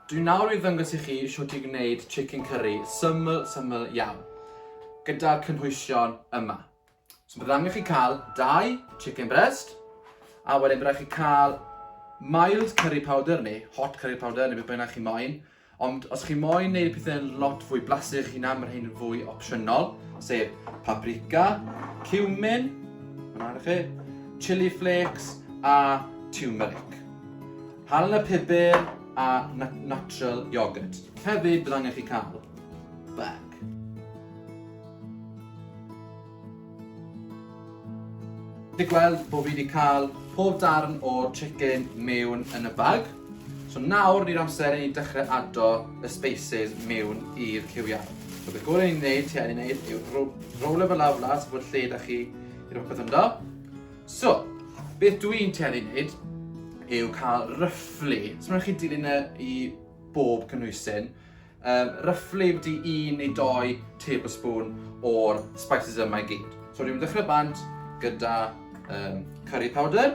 Dwi nawr i ddangos i chi shwt i gwneud chicken curry syml syml iawn gyda'r cynhwysion yma. So bydd angen chi cael dau chicken breast a wedyn bydd chi cael mild curry powder neu hot curry powder neu beth bynnag chi moyn. Ond os chi moyn neud pethau'n lot fwy blasu chi na, mae rhain yn fwy opsiynol, sef paprika, cumin, chi, chili flakes a turmeric. Halen y pupur a natural yoghurt. Hefyd bydd angen chi cael bag. Di gweld bod fi wedi cael pob darn o'r chicken mewn yn y bag. So nawr ni'r amser i ni dechrau ado y spaces mewn i'r cywiau. So beth gorau ni'n gwneud, ti angen gwneud, yw rowlo fe lawr las, bod lle da chi i rhywbeth ynddo. So, beth dw i'n tueddu wneud yw cael ryfflu, so mae'n chi dilyn e i bob cynhwysyn, um, ryfflu wedi un neu doi tablespoon o'r spices yma i gyd. So dwi'n dechrau bant gyda um, curry powder,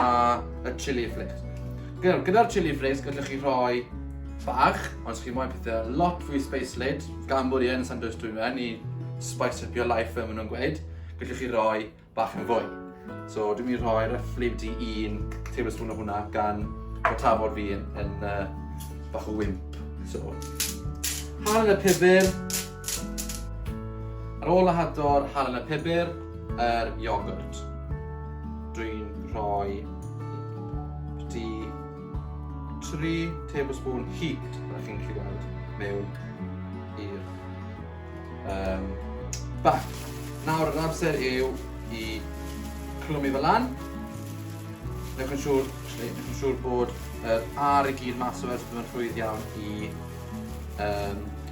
a y chili flakes. Gyda'r gyda chili flakes gallwch chi rhoi bach, ond chi moyn pethau lot fwy space lid, gan bod i yn San Dwys dwi'n meddwl, i spice up your life fel maen nhw'n gweud, gallwch chi roi bach yn fwy. So dwi'n mynd i rhoi roughly wedi un tablespoon o hwnna gan bod tafod fi yn, yn uh, bach o wimp. So, hanner y pibr, Ar ôl lahado'r halen y pibr, yr iogwrt. Dwi'n rhoi di 3 tablespoon heat, rydych chi'n gallu gweld, mewn i'r um, bac. Nawr, yr amser yw i clymu fel lan. Newch yn siŵr, newch yn siŵr bod yr ar i gyd mas o fe, so bydd yn rhwydd iawn i um,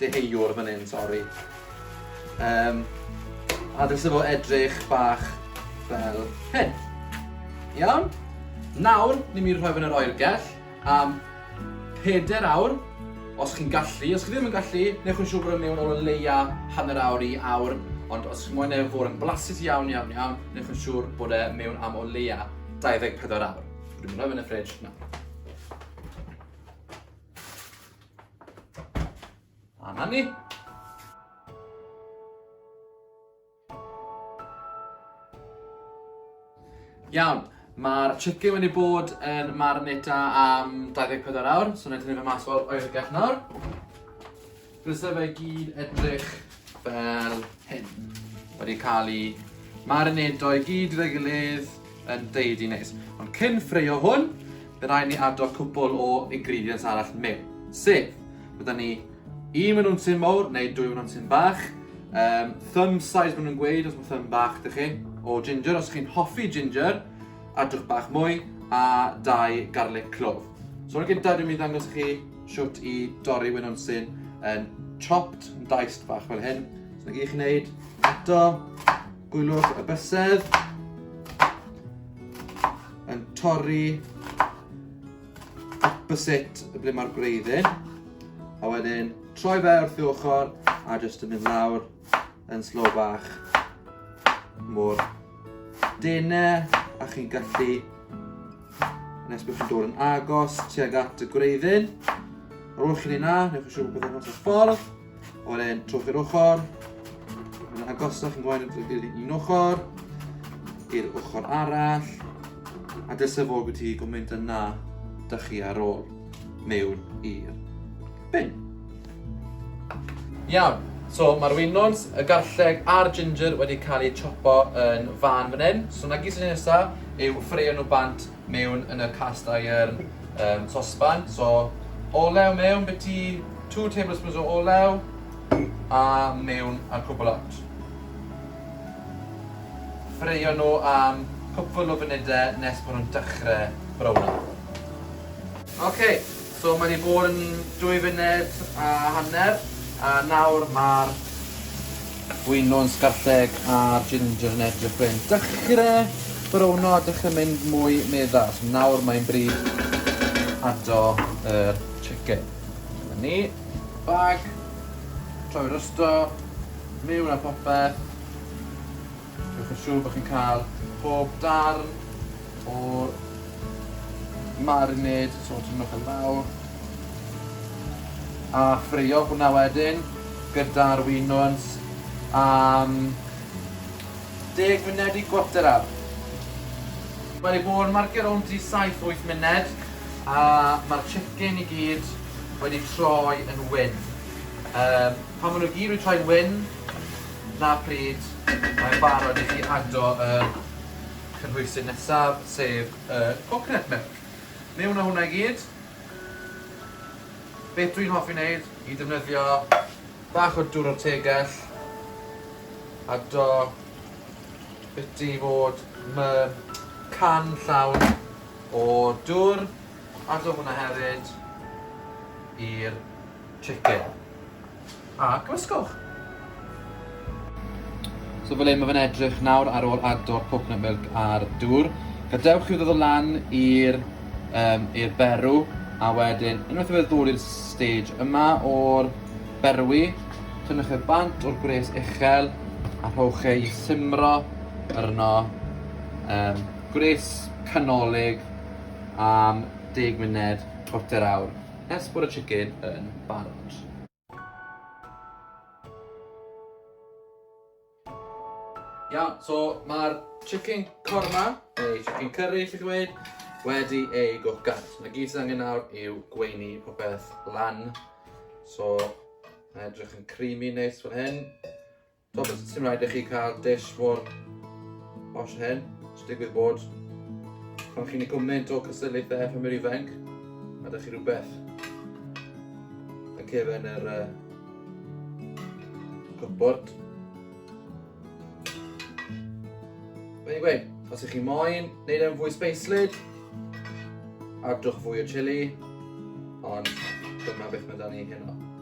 deheuwr fan hyn, sori. Um, a ddylse fo edrych bach fel hyn. Iawn? Nawr, ni'n mynd i rhoi fan yr oergell am 4 awr, os chi'n gallu. Os chi ddim yn gallu, neu chi'n siŵr bod yn mewn o leia hanner awr i awr, ond os chi'n mwyn efo fod yn blasus iawn, iawn, iawn, neu chi'n siŵr bod e mewn am o leia 24 awr. Dwi'n mynd rhoi fan y ffridge nawr. A na ni. Iawn, mae'r chicken wedi bod yn marinata am 24 awr, so wnaeth ni fe mas o'r oergell nawr. Bysa fe gyd edrych fel hyn. Wedi cael ei marinado i gyd gyda'i gilydd, yn deud i nes. Ond cyn ffreio hwn, fe rai ni addo cwbl o ingredients arall mewn. Sef, bydda ni un mynd nhw'n tyn mawr neu dwy mynd nhw'n tyn bach. Um, thumb size mynd nhw'n gweud os mae thumb bach dych chi. O ginger, os chi'n hoffi ginger, adwch bach mwy a dau garlic clove. So yn gyntaf dwi'n mynd ddangos chi siwt i dorri wyn o'n syn yn chopped, yn daist bach fel hyn. So na gyd chi'n neud, eto, Gwylwch y bysedd yn torri byset ble mae'r gwreiddyn a wedyn troi fe wrth i ochr a jyst yn mynd lawr yn slow bach mor dene a chi'n gallu nes bod chi'n dod yn agos tuag at y gwreiddyn. Ar ôl chi'n ei na, newch chi siŵr bod yn hwnnw'n ffordd. A wedyn trwch i'r ochr. Mae'n agosach yn gwain i'r un ochr. I'r ochr arall. A dysa fod wedi gwmynt yna da chi ar ôl mewn i'r bin. Iawn, so mae'r winwns, y garlleg a'r ginger wedi cael eu chopo yn fan fan hyn. So na gyd sy'n nesaf yw ffreio nhw bant mewn yn y cast iron um, sosban. So, olew mewn, beti 2 tablespoons o olew a mewn a cwbl out. Ffreio nhw am cwpl o funudau nes bod nhw'n dechrau brawna. Ok, so mae 'di bod yn dwy funud a hanner a nawr ma'r gwyno'n sgarlleg a'r ginger yn edrych fe'n dychre browno a dychre mynd mwy meddal. So nawr mae'n bryd ado yr chicken. Dyma ni, bag, troi rysto, mewn a popeth. Gwnewch yn siwr bod chi'n cael pob darn o'r marinade, so tynnwch yn fawr a ffreio hwnna wedyn gyda'r winwns am deg munud i gwarter awr. Mae wedi bod yn marcio rownd i saith wyth munud a mae'r chicken i gyd wedi troi yn wyn. Pan maen nhw i gyd wedi troi yn wyn, 'Na pryd, mae'n barod i chi ado y cynhwysydd nesaf, sef y coconut milk. Mewn â hwnna i gyd. Beth dwi'n hoffi wneud i defnyddio bach o dwr o'r tegell, ado biti i fod mewn can llawn o dwr, ado hwnna hefyd i'r chicken. A gwysgwch! So fel hyn mae fe'n edrych nawr ar ôl agor coconut milk ar dŵr. Gadewch i'w ddod o lan i'r um, i'r berw a wedyn unwaith i fe ddod i'r stage yma o'r berwi, tynnwch e bant o'r gwres uchel a rhowch e i simro yr yno um, gwres canolig am 10 munud, chwarter awr. Ers bod y chicken yn barod. Iawn, so mae'r chicken korma, neu chicken curry, chi'n dweud, wedi ei gwcan. So mae gyd sydd angen nawr yw gweini popeth lan. So, mae edrych yn creamy neis fan hyn. Does dim rhaid i chi cael dish mor posh hen, sy'n digwydd bod pan chi'n ei gwmnynt o cystadlaethau pan yw'r ifanc, a da chi rhywbeth yn cefn yr uh, cwpwrd. Mae'n gweud, os ych chi moyn wneud e'n fwy speislyd, adwch fwy o chili, ond dyma beth mae da ni heno.